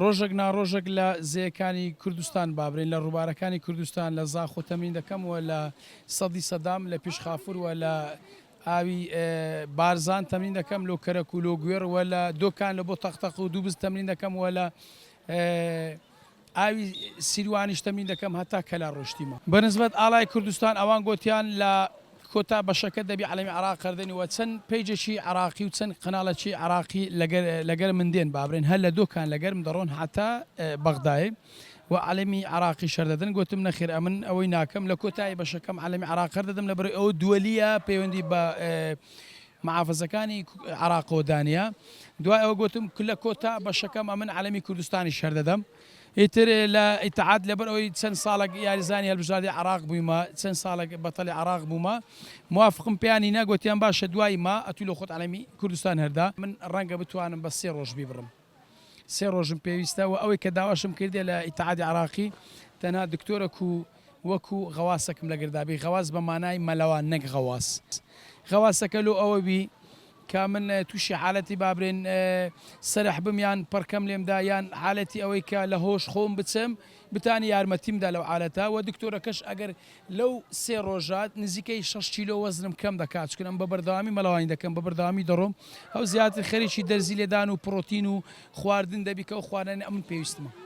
ڕۆژەک نا ڕۆژەک لە زێیەکانی کوردستان بابرین، لە ڕووبارەکانی کوردستان، لە زاخۆ تەمرین دەکەم و لە سەدی سەدام، لە پیش خافور و لە ئاوی بارزان تەمرین دەکەم، لۆ کەرەک و لۆ گوێڕ و لە دۆکان لە بۆ تەق تەق و دووبز تەمرین دەکەم و لە ئاوی سیروانیش تەمرین دەکەم هەتا کەلار ڕۆشتیمە. بە نسبەت ئاڵای کوردستان ئەوان گۆتیان لە کۆتا بەشەکە دەبی عەلەمی عراق قەردەنی وە چەن پەیجەکی عراقی و چەن قەنالەکی عراقی لەگەر لەگەر من دێن بابرێن هەر لە دۆکان لەگەرم دەڕۆن هەتا بەغدای و عەلەمی عراقی شەردەدەن گۆتم نەخیر ئەمن ئەوەی ناکەم لە کۆتایی بەشەکەم عەلەمی عراق قەردەدەم لەبەرەی ئەوە دوەلیە پەیوەندی بە محافزەکانی عراقەوە دانیە دوای ئەوە گۆتم لە کۆتا بەشەکەم ئەمن عەلەمی کوردستانی شەردەدەم. ئیتر لە ئیتحاد لەبەر ئەوەی چەند ساڵەک یاریزانی هەلبژاردەی عراق بویمە چەند ساڵەک بەتەلی عراق بومە موافقم پێیان نینا گۆتیان باشە دوای ما ئەتو لۆ خۆت عەلەمی کوردستان هەردا من رەنگە بتوانم بە سێ رۆژ بیبڕم سێ رۆژم پێویستە وە ئەوەی کە داواشم کردیە لە ئیتحادی عراقی تەنها دکتۆرەک و وەکو غەواسەکم لەگردابی غەواس بە مانای مەلەوان نەک غەواس غەواسەکە لۆ ئەوە بی کە من توشی حالەتی بابرێن سەرح بم یان پەڕکەم لێم دا یان حالەتی ئەوەی کە لە هۆش خۆم بچم بتانی یارمەتیم دا لەو حالەتە وە دکتۆرەکەش ئەگەر لەو سێ ڕۆژە نزیکەی شەش کیلۆ وەزنم کەم دەکا چونکە ئەم بە بەردەوامی مەلەوانی دەکەم بە بەردەوامی دەڕۆم ئەو زیاتر خەریکی دەرزی لێدان و پڕۆتین و خواردن دەبی کە ئەو خواردنەی ئەمن پێویستمە.